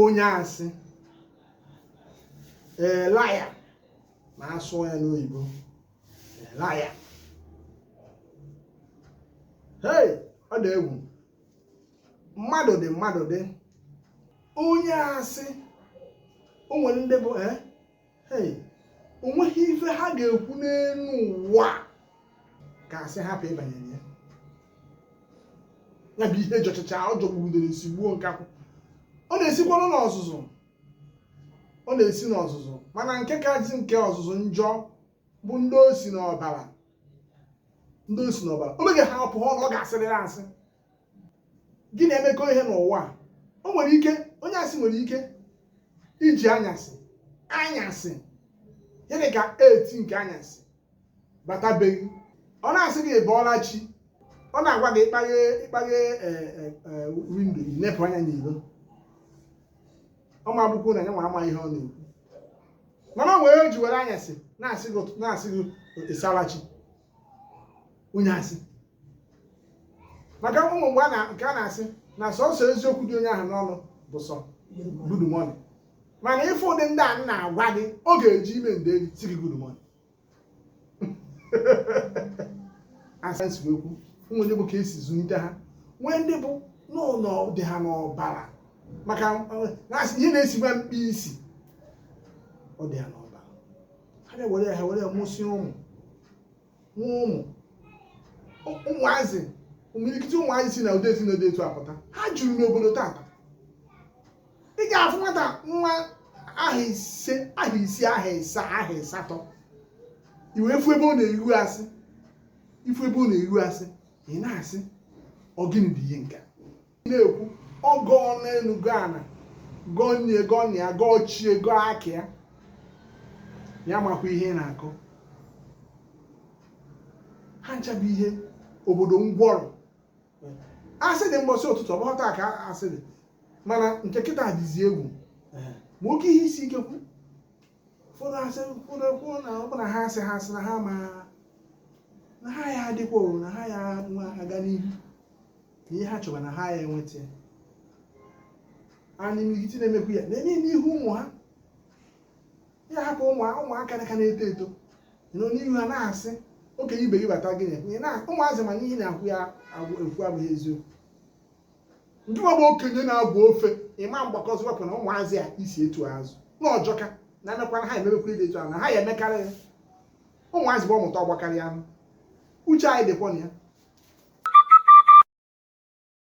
onye asị a liar ma a sụọ ya n'oyibo a liar hei ọ dị egwu mmadụ dị mmadụ dị onye asị o nwere ndị bụ eh, o nweghị ife ha ga-ekwu n'elu ụwa ka asị hapụ ịbanye na ya ya bụ ihe jọchacha ọ jọgbuo udele sigbuo nkakwụ ọ na-esikwanụ n'ọzụzụ ọ na-esi n'ọzụzụ mana nke kazi nke ọzụzụ njọ bụ ndị o si n'ọbara ndị o si n'ọbara o meghepụ ọnụ ọ ga-asịrịrị asị gị na-emekọ ihe n'ụwa o nwere ike onye asị nwere ike iji anyasị anyasị ihe dị ka eight nke anyasị batabeghị ọ na-asị gị bọọla chi ọ na-agwa gị ị kpaghee ị kpaghee e, e, e, window i nepụ anya n'ilo ọ ma bụkwa na ya nwa ama ihe ọ na-ekwu mana o nwere o ji were anyasị na-asị gị ụtụ- na-asị gị ị saala chi onye asị maka o nwee mgbe a na- nke a na-asị na sọsọ eziokwu dị onye ahụ n'ọnụ bụ sọ good morning mana ị fụ ụdị ndị a m na-agwa gị ọ ga-eji ime ndeli sị gị good morning as m si wee kwu o nwee ndị bụ ka e si zụlite ha nwee ndị bụ nnọọ ọ dị ha n'ọbara maka eh, na-asị ihe na-esi nwa mkpi isi ọ dị ha n'ọbara ha na-ewere ha were mụsịa ụmụ nwa ụmụ ụmụazị imilikiti ụmụazị si na ụdị ezinụlọ dị etu apụta ha juru n'obodo tata ị ga-afụ nwata nwa ahọ ise ahọ isii ahọ ịsaa ahọ ịsatọ i wee fụ ebe ọ na-eru asị ị fụ ebe ọ na-eru asị ị na-asị ọ gịnị bụ ihe nke a? na-ekwu ọ gọọ n'elu gọọ ana gọọ nne gọọ nna ya gọọ chi ya gọọ aka ya ya makwa ihe ị na-akọ ha ncha bụ ihe obodo ngwọrọ asị dị mbọsị ụtụtụ ọ bụghị taa ka asị dị mana nke kịta dịzi egwu ma oke ihe isi ike kwu ụfọdụ asị ụfọdụ kwuo na ọ bụ na ha asị ha asị na ha ma na ha ya adịkwa o, na ha ya nwa aga n'ihu na ihe ha chọba na ha ya enweta ya anyị n'ihiti na-emekwu ya na-eme ya n'ihu ụmụ ha ya hapụ ụmụ ụmụaka ka na-eto eto nọ n'ihu ha na-asị okenye ibe gị bata gị na-ekwu ihe na ụmụazị ma na ihe na-akwụ ya agwụ- ekwu abụghị eziokwu ndị nwa bụ okenye na-abụ ofe ịma mgbakọzi wepụ na ụmụazị a i si etu a azụ na ọ jọka na emekwara ha ememekwa ụdị etu ahụ na ha ya emekarị ya ụmụazị bụ ọmụta ọgbakarị anụ uche anyị dịkwa na ya